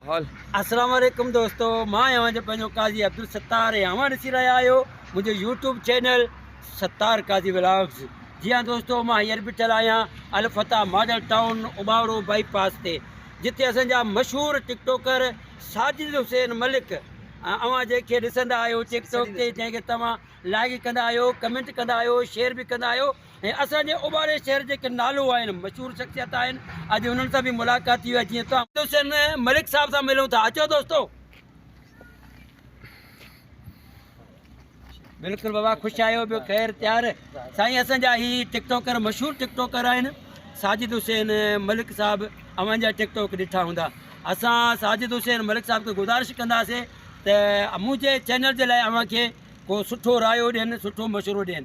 Hall. السلام عليڪم دوستو مان آهيان اوهان جو پنهنجو قاضي عبدالستار ۽ اوهان ڏسي رهيا آهيو منهنجو YouTube channel Sattar Qazi vlogs جي ها دوستو مان هينئر بيٺل آهيان Alfateh model town Ubauro bypass تي جتي اسان جا مشهور ٽڪ ٽوڪر ساجد حسين ملڪ اوهان جنهن کي ڏسندا آهيو ٽڪ ٽوڪ تي جنهن کي توهان لائڪ ڪندا آهيو ڪمينٽ ڪندا آهيو شيئر به ڪندا آهيو ۽ اسان جي اوٻاڙي شهر جيڪي نالو آهن مشهور شخصيت آهن اڄ انهن سان به ملاقات ٿي وئي جيئن توهان حسين ملڪ صاحب سان ملون ٿا اچو دوستو. بلڪل بابا خوش آيو ٻيو خير تيار سائين اسان جا هي ٽڪ ٽوڪر مشهور ٽڪ ٽوڪر آهن ساجد حسين ملڪ صاحب اوهان جا ٽڪ ٽوڪ ڏٺا هوندا اسان ساجد حسين ملڪ صاحب کي گذارش ڪنداسي ته منهنجي چينل جي لاء اوهان کي ڪو سٺو رايو ڏين سٺو مشورو ڏين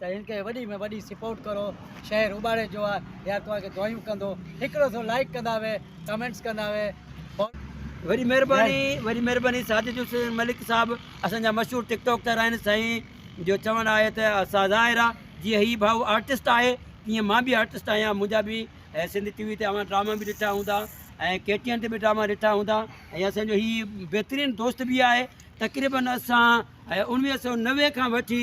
ته هن کي وڏي ۾ وڏي سپورٽ ڪرو شهر اٻاڙي جو آ يار توهان کي دعايون ڪندو هڪڙو سو لائڪ ڪندا وي ڪمينٽس ڪندا وي وڏي مهرباني وڏي مهرباني ساجد حسين ملڪ صاحب اسان جا مشهور ٽڪ ٽاڪ تر آهن سائين جو چوڻ آهي ته اسان ظاهر آ جي هي ڀائو آرٽسٽ آهي تيئن مان به آرٽسٽ آهيان منهنجا به سنڌ ٽي وي تي اوهان ڊراما به ڏٺا هوندا ۽ ڪي ٽي ان تي به ڊراما ڏٺا هوندا ۽ اسان جو هي بهترين دوست به آهي تقريبن اسان ۽ انويهه سو نوي کان وٺي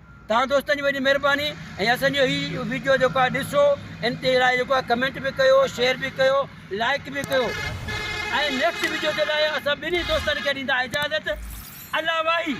توهان دوستن جي وڏي مھرباني ۽ اسان جو ھي ويڊيو جيڪو آھي ڏسو ان تي لاء جيڪو آھي ڪمينٽ به ڪيو شيئر به ڪيو لائڪ به ڪيو ۽ نيڪسٽ ويڊيو جي لاء اسان ٻنھي دوستن کي ڏيندا اجازت الله واھي.